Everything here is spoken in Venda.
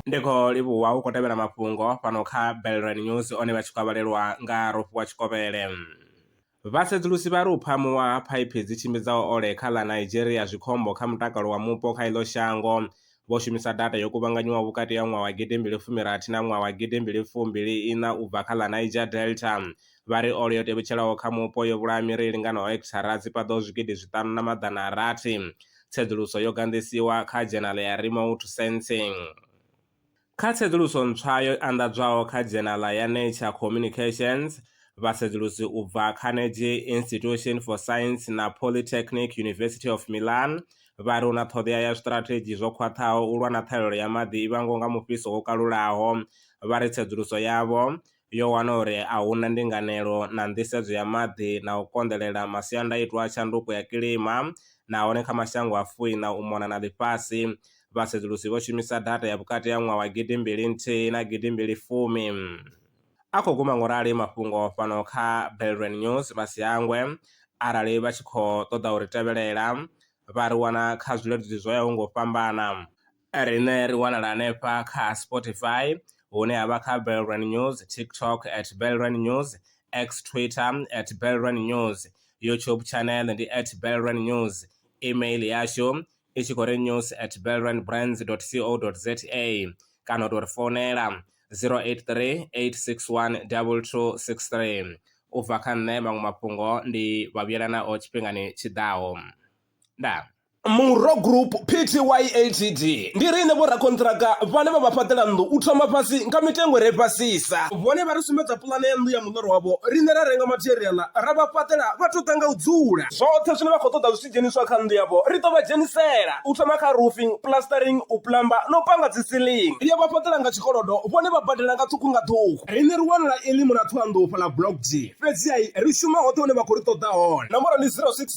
ndi khou livhuwa u khou tevhela mafhungo fhano kha belran news one vha tshi khou vhalelwa nga rofhiwa tshikovhele vhasedzulusi vha ri u phamuwa ha phaiphi dzi tshimbidzaho ole kha ḽa nigeria zwikhombo kha mutakalo wa mupo kha iḽo shango Vho shumisa data yo kuvhanganywaho vhukati ha ṅwaha wa gidi mbili fumi rathi na ṅwaha wa gidi mbili fumbili iṋa u bva kha ḽa Niger Delta. Vha ri ole yo tevhetshelaho kha mupo yo vhulaha miri i linganaho hekithara dzi paḓaho zwigidi zwiṱanu na maḓana a rathi. Tsedzuluso yo ganḓisiwa kha dzhenala ya Remote Sensing. Kha tsedzuluso ntswa yo anḓadzwaho kha dzhenala ya Nature Communications, vhasedzulusi u bva kha Nege Institution for Science na Polytechnic University of Milan vha ri hu na ṱhoḓea ya zwiṱirathedzhi zwo khwaṱhaho u lwa na ṱhahelelo ya maḓi i vhangwaho nga mufhiso wo kalulaho. Vha ri tsedzuluso yavho yo wana uri a hu na ndinganelo na nḓisedzo ya maḓi na u konḓelela masiandaitwa a tshanduko ya kilima nahone kha mashango a fui na u mona na ḽifhasi. Vhasedzulusi vho shumisa data ya vhukati ha ṅwaha wa gidi mbili nthihi na gidi mbili fumi. A khou guma ngo rali mafhungo fhano kha Belrand News vha si hangwe arali vha tshi khou ṱoḓa u ri tevhelela vha ri wana kha zwileludzi zwo yaho ngo fhambana. Riṋe ri wanala hanefha kha Spotify hune havha kha Belrand News, TikTok at Belrand News, X Twitter at Belrand News, YouTube channel ndi at Belrand News, email yashu i tshi khou ri news at belrandbrands.co.za kana u tou ri founela 083 861 2263. U bva kha nṋe maṅwe mafhungo ndi vha vhuyela nao tshifhingani tshi ḓaho. Ndaa. Murro Group Pty Ltd ndi riṋe vhorakonṱiraka vhane vha vha fhaṱela nnḓu u thoma fhasi nga mitengo re fhasisa. Vhone vha ri sumbedza puḽane ya nnḓu ya muḽoro wavho, riṋe ra renga matheriaḽa ra vha fhaṱela vha tou ḓa nga u dzula. Zwoṱhe zwine vha khou ṱoḓa zwi tshi dzheniswa kha nnḓu yavho ri ḓo vha dzhenisela, u thoma kha roofing, plastering, u plumber na u panga dzi ceiling. Ri a vha fhaṱela nga tshikolodo vhone vha badela nga ṱhukhu nga ṱhukhu. Riṋe ri wanala Elim na Thohoyandou fhaḽa Block D, fhedzi-ha ri shuma hoṱhe hune vha khou ri ṱoḓa hone. Nomboro ndi 06.